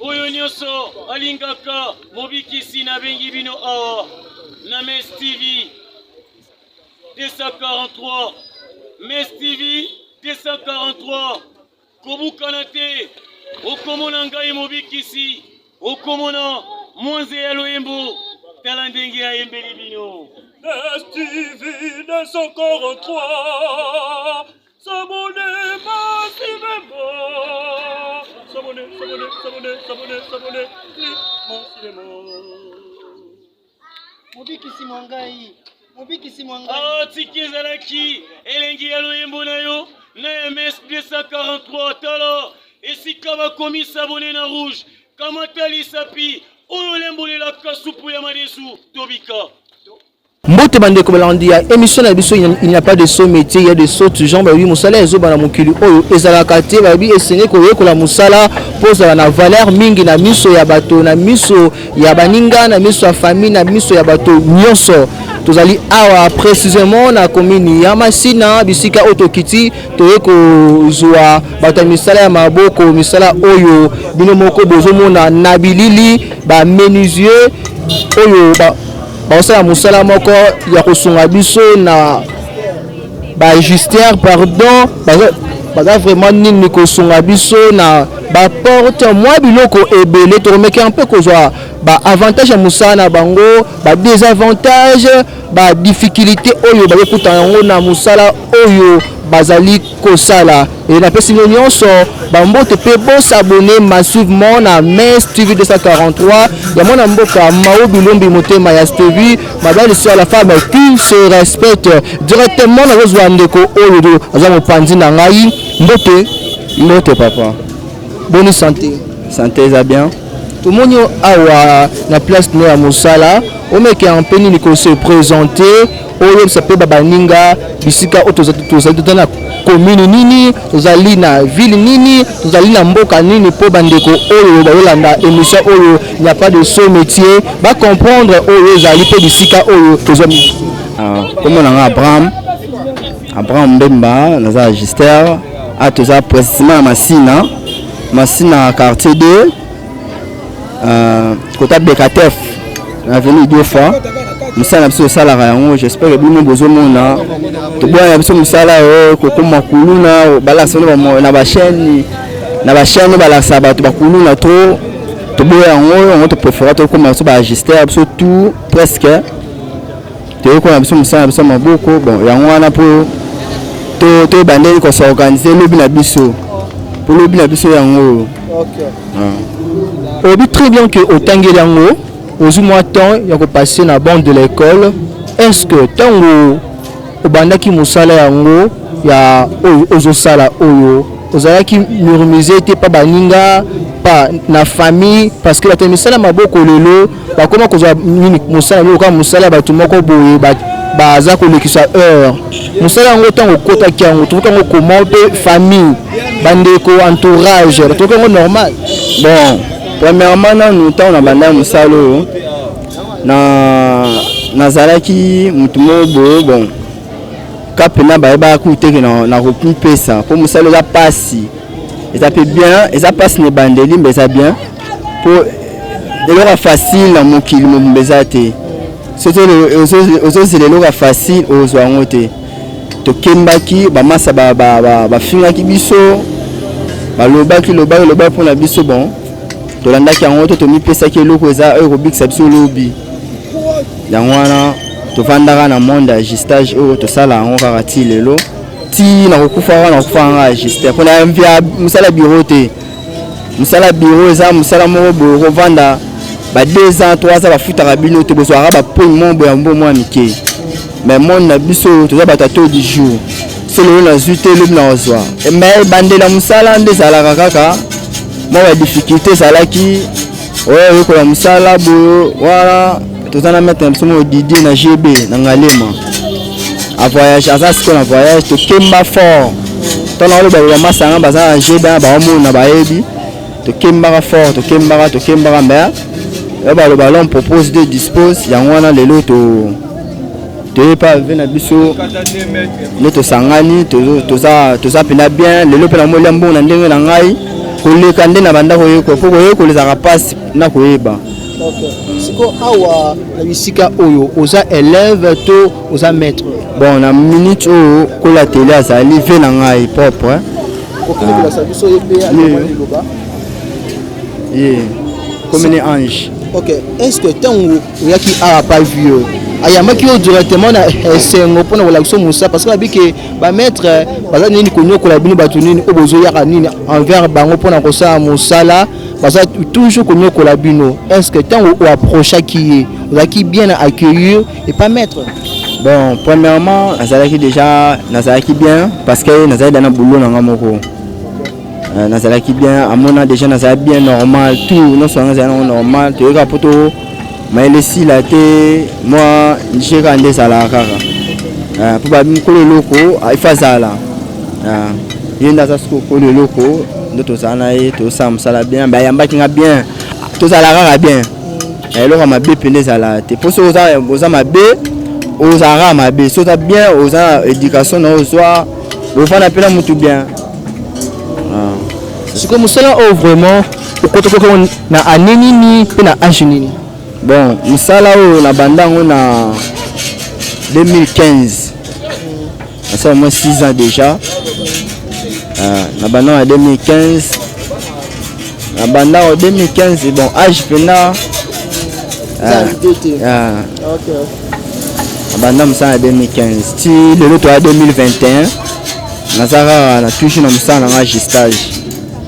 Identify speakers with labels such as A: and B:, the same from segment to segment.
A: oyo nyonso alingaka mobikisi nabengi bino awa na mes tv 243 mes tv 243 kobukana te okomona ngai mobikisi okomona mwanze ya loyembo tala ndenge ayembeli bino mes
B: tv 243 mobikisi mwa
C: ngai mobikisi mwa ngai atiki ah, ezalaki
A: elengi ya loyembo na yo na ms 243 tala esika bakomi sabone na rouge kamata lisapi oyo olembolelaka supu ya madesu tobika
D: mbote bandeko balandi ya émission na biso il n'y a pas de saut métier il y a de saut genre balobi mosala ya zoba na mokili oyo ezalaka te balobi esengeli koyekola mosala mpo ozala na valeur mingi na miso ya bato na miso ya baninga na miso ya famille na miso ya bato nyonso tozali awa précisément na commune ya masina bisika oyo tokiti toye kozwa bato ya misala ya maboko misala oyo bino moko bozomona na bilili ba menusier oyo ba bakosala mosala moko ya kosunga biso na bajustière pardon baza vraiment nini kosunga biso na baporte mwa biloko ebele tokomekea mpe kozwa baavantage ya mosala na bango badesavantage badifficulté oyo bakokutana yango na mosala oyo bazali kosala et napesi bino nyonso bambote mpe bosabone massivement na mes tv 243 ya mwana mboka mao bilombi motema ya stevi mabali sur la femme qui se respecte directement nakozwa ndeko oyo aza mopanzi na ngai mbote mbote papa boni santé santé eza bien
E: tomoni
D: awa na place no ya mosala omekea mpe nini ko se présenter oyebisa mpe babaninga bisika oyo tozali tozali na komini nini tozali na ville nini tozali na mboka nini mpo bandeko oyo bayolanda émission oyo il n'y a pas de saut métier bacomprendre oyo ezali mpe bisika oyo tozwa nkombo ah,
E: na ngai abraham abraham mbemba naza agister a ah, toza précisément na masina masina quartier 2 Euh, kota bekatef na avenue idiofa mosala na biso tosalaka yango j'espère bino bozomona toboya na biso mosala oyo kokoma kuluna balakisa bino na bachaine na bachaine balakisa bato bakuluna trop toboya yango yango topréféra tokoma biso baagister biso tout presque toyekola biso mosala na biso ya maboko bon yango wana mpo toyeba ndenge kosorganize lobi na biso mpo lobi na biso yango oyo ah.
D: oyebi très bien ke otangeli yango ozwi mwa temps ya kopasse na bande de l'école est ce que ntango obandaki mosala yango ya oyo ozosala oyo ozalaki murmise te mpa baninga pa na famille parce que bato ya misala maboko lelo bakoma kozwa nini mosala nini lokola mosala ya bato moko boye baza kolekisa heure mosala yango ntango okotaki yango tokoki yango koma mpe famille bandeko entourage batokoki yango normal bon
E: premièrement nanu ntango na bandaki mosala oyo na nazalaki motu moko boye bon ka mpena bayebaka kutu teke nakopesa mpo mosala eza mpasi eza mpe bien eza mpasi na ebandeli mpe eza bien po eloko ya facile na mokili mobimba eza te soki ozozela eloko ya facile ozwa yango te tokembaki bamasa bafingaki biso balobaki lobaki lobaki mpo na biso bon tolandaki yango to tomipesaki eloko eza oyo ekobikisa biso lobi yango wana tofandaka na monde ya gistage oyo tosala yango kaka ti lelo ti nakokufa wana nakokufa kaka gistage mpo na mosala biro te Musala bureau eza musala moko boye okovanda ba 2 ans 3 ans bafutaka bino te bozwaka bapoint moko boye ya mbo mwa mike mais monde na biso toza bato ya taux du jour solo oyo nazwi te lobi na kozwa mais bandela mosala nde ezalaka kaka mwa badifficulte ezalaki oyo oyekola mosala boyo wana toza na maître na biso moko didier na gb na ngalema avoyage aza siko na voyage tokemba fort ntango aloba loba masanga baza na gb na baomona bayebi tokembaka fort tokembaka tokembaka mais oyo baloba l'homme propose de dispose yango wana lelo to toye pa ve na biso nde tosangani toza toza mpena bien lelo mpe namoli ya mbongo na ndenge na ngai koleka nde na bandako yeko mpo koyekola ezalaka mpasi na koyeba Okay.
D: Siko awa na bisika oyo oza élève to oza maître? Bon na minute
E: oyo kola tele azali vie na ngai propre. Hein? kokolakisa
D: biso ye mpe alobani liloba ye
E: komene ange ok est ce que
D: ntango oyaki awa pa vieux ayambaki yo directement na esengo mpo na kolakisa mosala parce que abi ke bamaître baza nini konyokola bino bato nini oyo bozoyaka nini envers bango mpo na kosala mosala baza toujours konyokola bino est ce que ntango oapprochaki ye ozalaki bien na accueillir et pas maître bon
E: premièrement nazalaki déjà nazalaki bien parce que nazalaki da na boulot na nga moko euh, nazalaki bien amona déjà nazalaki bien normal tout nyonso yango ezali nango normal toyekaka mpo to mayele esila te mwa nje kaka nde ezalaka kaka ah, mpo bamikolo eloko ah, ifa azala ah, ye nde aza soki okolo eloko nde tozala na ye tozosala mosala bien mbe ayambaki nga bien tozala kaka bien eloko ya mabe mpe nde ezalaka te mpo soki oza mabe ozala kaka mabe soki oza bien oza na éducation na ozwa ofanda mpe na motu bien
D: sikoyo mosala oyo vraiment okotokoki yango na ane nini mpe na age nini bon
E: misala oyo nabanda yango na 2015 nasala mwa 6 ans déjà euh, nabanda na 2015 nabanda yango 2015 bon age mpena euh,
D: euh,
E: nabanda mosala na 2015 ti lelo toya 2021 naza kaka na toujours na mosala na nga gistage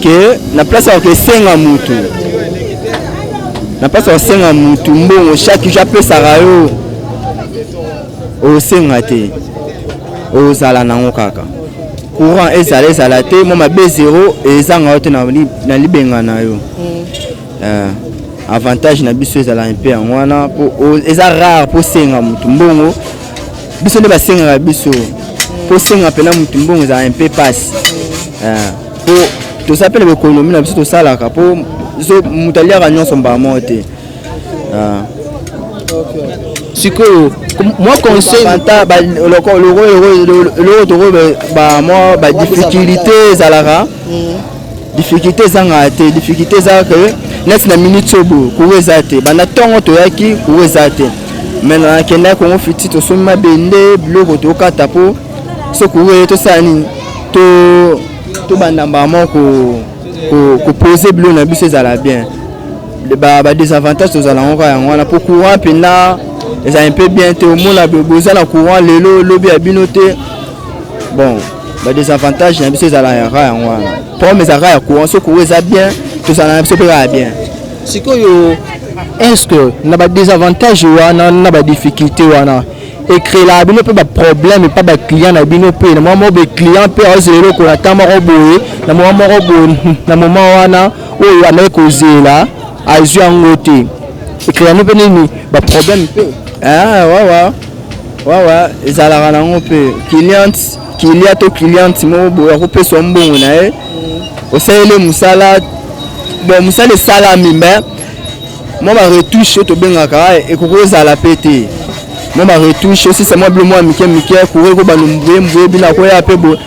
E: que na place ya kosenga mutu na place ya kosenga mutu mbongo chaque jour apesaka yo osenga te ozala nango kaka courant ezala ezala te mwa mabe zero ezanga yo te na libenga na yo mm. eh, avantage na biso ezala mpe yango wana eza rare mpo osenga motu mbongo biso nde basengaka biso kosenga mpena motu mbongo ezala mpe mpasi mpo eh, toza mpe na baekonomi na biso tosalaka mpo moto aliaka nyonso mbala moko te eh. sikoyo mwa conseileloko tokoyo bamwa badifficulté ezalaka mm. difficulté ezangaka te difficulté ezaka ke neti na minute oyo boye kuru eza te banda ntongo toyaki kuru eza te me nakendaki kongo fiti tosombi mabende biloko tokata mpo so kuru eye tosala nini tobanda mbala moko kopose biloko na biso ezala bien badesavantage tozala yango kaka yango wana mpo courant mpenza ezali mpe bien te omona boza na courant lelo lobi ya bino te bon ba desavantage na biso ezala ya ra yango wana problème ezalaka ya courant so courant eza bien tozala na biso mpe kaka bien sikoyo
D: est-ce que na ba desavantage wana na ba difficulté wana ekrelaka bino mpe baproblème epa baclient na bino mpe na mwa moko baclient mpe aozela eloko na ta moko boye na mwa moko boye na moma wana oyo ameki kozela azwi yango te ekrela bino mpe nini baproblème mpe ah, ouais, ouais.
E: wawa ezalaka nango mpe client kilia to client moko boye akopeswa mbongo na ye osaleli mosala bon mosala esalami me mwa baretouche oyo tobengaka ekoki kozala mpe te mwa baretouche osisa mwa bilo mwa mike mike kore ko banumbuye mbuye bino akoya mpe boye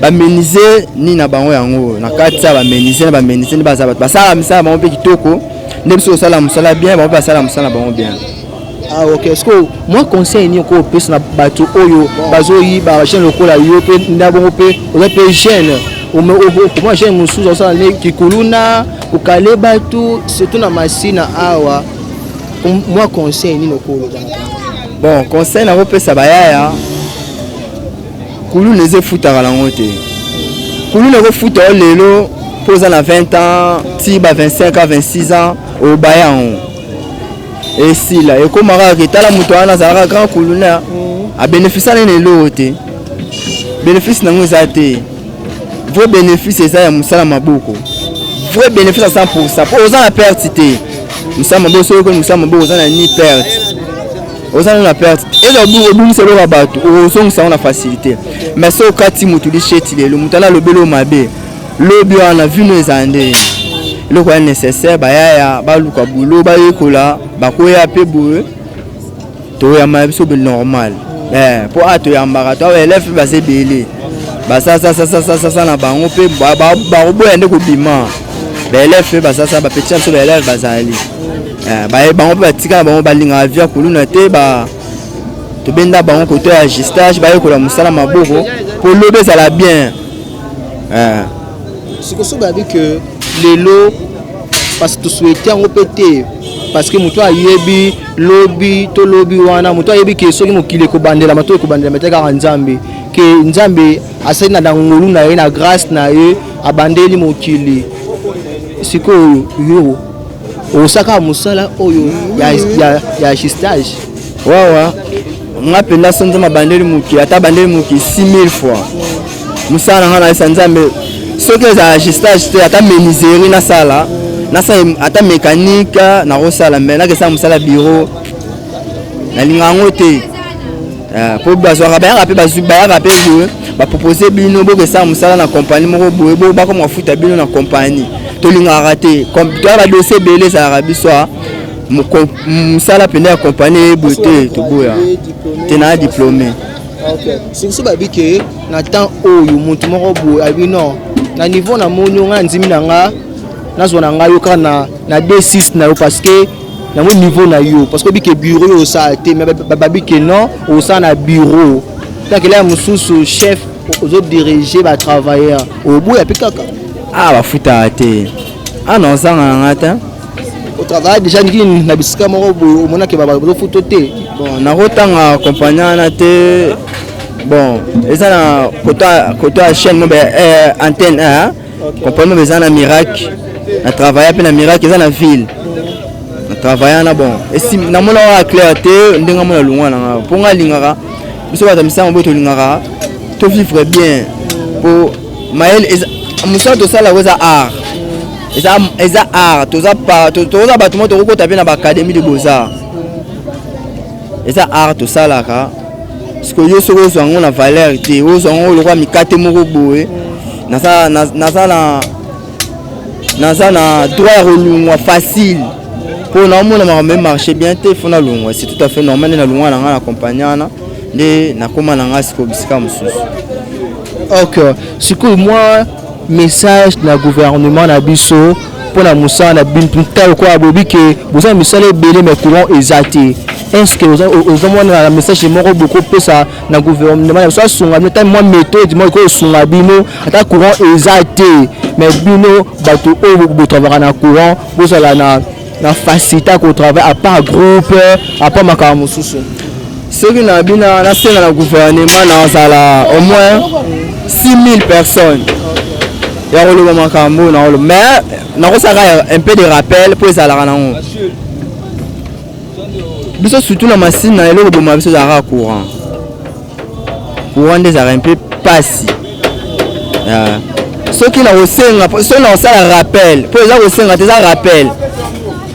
E: bamenise nini na bango yango na kati ya bamenise na bamenise nde baza bato basala misala bango mpe kitoko nde biso kosala mosala bien bango mpe basala mosala na bango bien Ah, ok ce
D: que mwa conseil nini okoki kopesa na bato oyo bazoyiba jeune lokola yo mpe nda bongo mpe oza mpe jeune okoma jeune mosusu osala nde kikuluna kokale bato surtout na masina awa
E: mwa
D: conseil nini
E: okoloba bon conseil
D: nakopesa
E: bayaya Kuluna eza efutaka nango te. Kuluna ekofuta yo lelo mpo oza na 20 ans ti ba 25 ans 26 ans obaya yango esila ekoma kaka ke tala moto wana azalaka grand kuluna abenefisa nene eloko te benefisi nango eza te vrai benefisi eza ya mosala maboko vrai benefisi ya 100 pourcent mpo oza na perte te mosala maboko soki okoni mosala maboko oza na ni perte oza nano na perte eza obungisa eloko ya bato ozongisa yango na facilité mais so okati motu lisheti lelo moto ana alobeli oyo mabe lobi wana vino ezala nde eloko ya nécessaire bayaya baluka bulo bayekola bakoya mpe boye toyamba biso be normal eh, mpo a toyambaka to elève mpe baza ebele basasasasasasa na bango mpe bakoboya nde kobima baelève mpe basasa bapetisa biso baelève bazali Eh, baye bango mpe batikala bango balingaka via kuluna te ba tobenda bango koto ya gistage bayekola mosala maboko mpo lobi ezala bien eh.
D: sikoso babi ke lelo parce toswete yango mpe te parce que moto ayebi lobi to lobi wana moto ayebi ke soki mokili ekobandelama to ekobandelama te kaka nzambe ke nzambe asali na dangolu na ye na grâce na ye abandeli mokili sikoyo yo Osaka musala oyo ya, ya, ya justage wawa
E: nga mpenza so nzambe abandeli mokili ata abandeli mokili 6000 fois mosala na nga nayesa nzambe soki ezala justage te ata meniseri nasala nasala ata mécanique nakosala me nakesala mosala biro nalinga yango te Ah, po bazwaka bayaka mpe bazwi bayaka mpe boye bapropose bino bokesala mosala na kompani moko boye bo bakoma kofuta bino na kompani tolingaka te toya badosie ebele ezalaka biso ah. mosala mpenza ya kompani eyeboye te toboya te na diplome
D: soki babi ke na temps oyo motu moko boye abi non na niveau na moni yo ngai na ndimi na nga nazwa na ngai yo kaka na 26 na yo parce que yango niveau na yo parce que oyebi ke bureau yo osala te mais babi ke non osala na bureau takela ya mosusu chef ozodirige batravailleur oboya mpe kaka ah bafutaka
E: te ah non ozanga na ngai te otravaya
D: déjà ndiki na bisika moko boye omonake bazofuto te bon nakotanga
E: kompagnie wana te bon eza na koto ya chaîne mobe eh, antenne eh, comprendre mais eza na miracle na travailla mpe na miracle eza na ville na travailla na bon esi namona kaka clair te ndenge amona lungwa na ngai mpo ngai alingaka biso bato ya misango boye tolingaka tovivre bien mpo mayele mosala tosala yango eza art eza eza art toza toza bato moko tokokota mpe na baacadémie de beaux-arts eza art tosalaka sikoyo yo soki ozwa yango na valeur te ozwa yango lokola mikate moko boye naza na naza na droit ya kolungwa facile mpo naomona makambo e marché bien te fo nalungwa c'est tout à fait normal nde nalungwa na ngai na kompagnie wana nde nakóma na ngai sikoyo bisika mosusu ok
D: sikoyo mwa Message na gouvernement na biso pona musala na bino ta lokola bobi ke boza na misala ebele mais courant eza te est-ce que ozomona na message moko bokopesa na gouvernement na biso asunga bino ata mwa méthode moko ekoki kosunga bino ata courant eza te mais bino bato oyo botravaka na courant bozala na na facilité ya kotravaille à part groupe à part makambo mosusu soki na
E: bina nasenga na gouvernement nazala au moins 6000 personnes ya koloba makambo oyo nakoloba mais nakosaka un peu de rappel mpo ezalaka nango biso surtout na masine na eloko boma biso ezalaka courant courant nde ezalaka mpe mpasi ah. soki na kosenga soki na kosala rappel mpo eza kosenga te eza rappel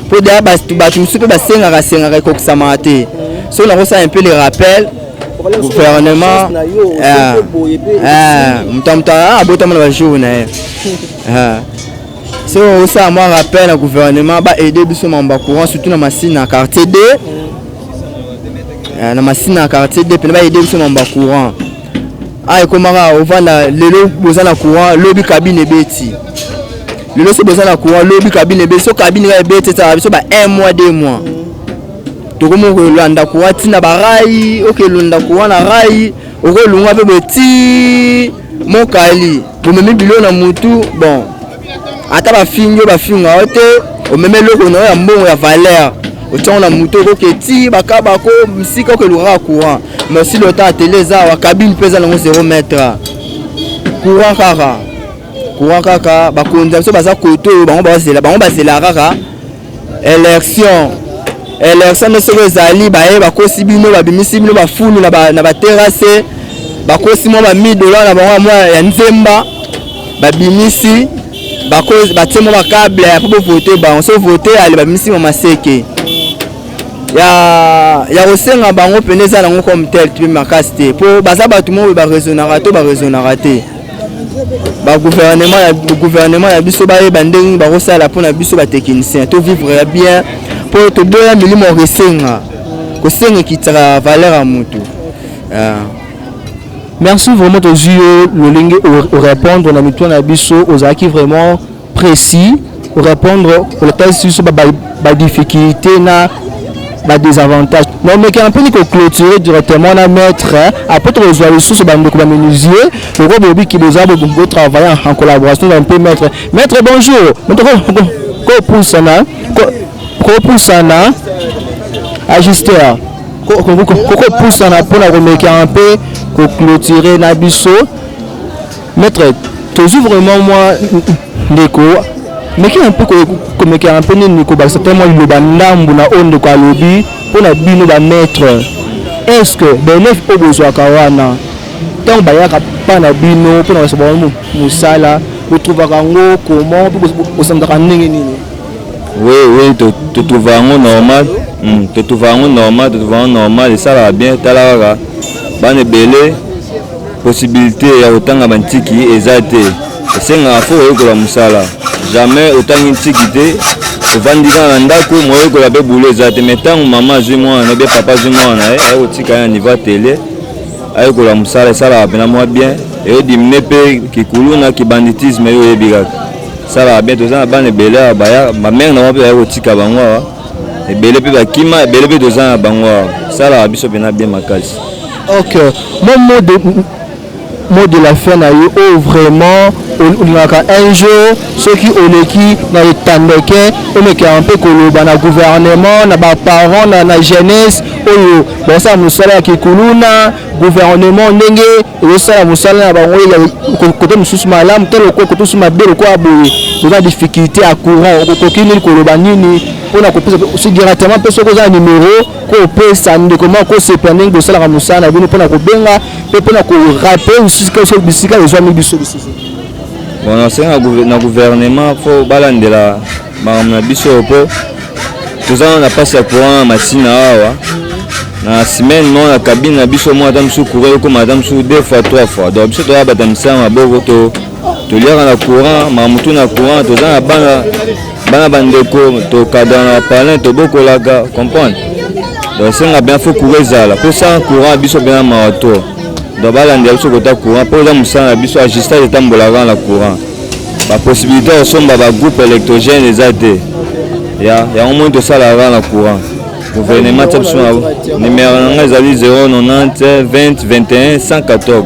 E: mpo deya bato mosusu mpe basengaka sengaka ekokisamaka te soki na kosala mpe le rappel gouvernement ah. ah. moto ya moto abotama na bajour na ye soki okosala mwa rappel na gouvernement ba aide biso mambo ya courant surtout na masine na quartier 2 Eh, na masina quartier de pene bayede biso mamba courant a ah, ekomaka ovanda lelo boza na courant lobi kabine ebeti lelo so boza na courant lobi kabine ebeti so kabine kaka ebeti etaka biso ba un mois deux mois tokomi kolanda courant ntina barai okelonda courant na rai okolunga mpe boti mokali bomemi bilo na motu bon ata bafingi yo bafinga yo te omema eloko na yo ya mbongo ya valeur otiango na moto okoke ti bakabako msika oke elukaka courant mais osi lota atele eza awa kabine mpe eza nango 0 mètre courant kaka courant kaka bakonzi ya biso baza kote oyo bango bazela bango bazelaka kaka Election election nde soki ezali baye bakosi bino babimisi bino bafulu na baterase bakosi mwa bamidola na bango mwa ya nzemba babimisi batie mwa bakable ya po bovote bango so vote ale babimisi mwa maseke ya ya kosenga bango mpena eza nango comme tel mpe makasi te mpo baza bato moko baresonaka to baresonaka te ba gouvernement ya gouvernement ya biso bayeba ndenge nini bakosala mpo na biso batechnicien tovivre ya bien mpo toboya milimo ya kosenga kosenga ekitaka valeur ya motu ah.
D: merci vraiment tozwi yo lolenge orépondre na mituna na biso ozalaki vraiment precis ko repondre kolakisi biso ba difficultes na ba desavantages donc mekana mpe ko clôturer directement na maître après tokozwa lisusu bandeko ba menuisier lokola bolobi ke boza bo travailler en collaboration na mpe maître maître bonjour kopusana kopusana ajuster kokopusana mpona komekana mpe ko clôturer na biso Maître, tozwi vraiment mwa ndeko meki na mpe komekaka mpe nini kobakisa te mwa liloba ndambo na oyo ndeko alobi mpo na bino bamaitre est ce que baelève oyo bozwaka wana ntango bayaka mpa na bino mpo na kosa bango mosala botrouvaka yango comment mpe bosanzaka ndenge nini oui oui
C: totrouva yango normal hmm, totrouva yango normal totrouva yango normal esalaka bien tala kaka bana ebele Possibilite ya kotanga bantiki eza te, esengaka fo oyekola mosala. Jamais otangi ntiki te, ovandi kaka na ndako, moyekola mpe boulot eza te. Mais ntango mama azwi mwana na bie papa azwi mwana na ye, aye kotika ye na niveau ya tele, ayekola mosala, esalaka mpena mwa bien, eyo diminue mpe kikuluna, kibanditisme, yo oyebi kaka. Esalaka bien, toza na bana ebele awa, ba mère na bango mpe baye kotika bango awa. ebele mpe bakima ebele mpe toza na bango awa salaka biso mpena bien makasi ok
D: mon mot de, mot de la fin na yo oyo oh, vraiment olingaka un jour soki oleki na etandeke olekaka mpe koloba na gouvernement na baparent na, na jeunesse oyo basala mosala ya kikuluna gouvernement ndenge ezosala mosala na bango kote mosusu malamu te lokola kote mosusu mabe lokola boye oza na difficulté ya courant okoki nini koloba nini mpona kopesa si directement mpe soki oza na numero kopesa ndeko moko kosepela ndenge bosalaka mosala na bino mpona kobenga mpe mpona korape lisusu bisika ezwami biso lisusu bon
C: nasenga na gouvernement mpo balandela makambo na biso oyo mpo toza nano na mpasi ya courant na masina awa na semaine moko na kabine na biso moko ata mosusu courant ekoma ata mosusu deux fois trois fois donc biso toyaka bata misala maboko to toliaka na courant makambo tu na courant toza na bana bana bandeko tokadana na palin tobokolaka comprendre donc esenga mpenza fo courant ezala mpo sans courant biso mpenza mawa to donc balandela biso kota courant mpo eza mosala na biso ajustage etambolaka na courant Ba possibilité ya kosomba ba groupe électrogène eza te ya yango moni tosalaka na courant gouvernement tia biso numero na ngai ezali 090 20 21 114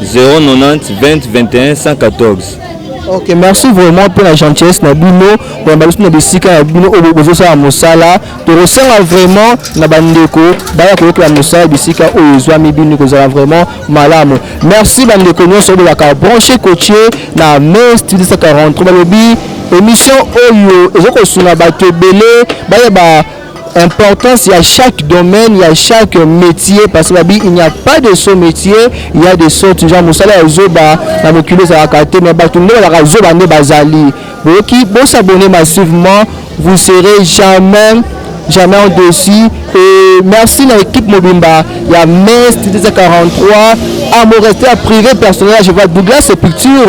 C: 090 20 21 114 ok merci
D: vraiment mpo na gentillesse na bino koyamba biso na bisika ya bino oyo bozosala mosala tokosenga vraiment na bandeko baya koyokela mosala bisika oyo ezwami bino kozala vraiment malamu merci bandeko nyonso bolaka branche cotier na mai style 143 balobi émission oyo ezo kosunga bato ebele bayeba importance ya chaque domaine ya chaque métier parce que babi il n'y a pas de saut métier il y a des sautes genre mosala ya zoba na mokili ezalaka te mais bato nde balaka zoba nde bazali Boki bo s'abonner massivement, vous serez jamais jamais en dessus et merci na équipe mobimba ya Metz TTC 43 à mon rester à privé personnel je vois Douglas Sepulture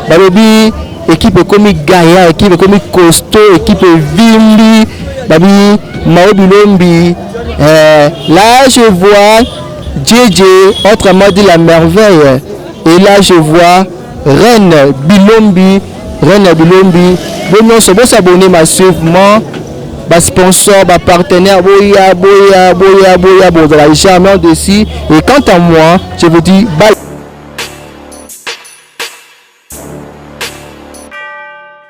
D: balobi équipe ekomi gaillard équipe ekomi costaud équipe evimbi babi Mao Bilombi euh, là je vois JJ autrement dit la merveille et là je vois Reine Bilombi, Reine ya Bilombi, bo nyonso bo s'abonner massivement ba sponsors, ba partenaires, boya boya boya boya, bozala jamais dessus. Et quant à moi, je vous dis bye.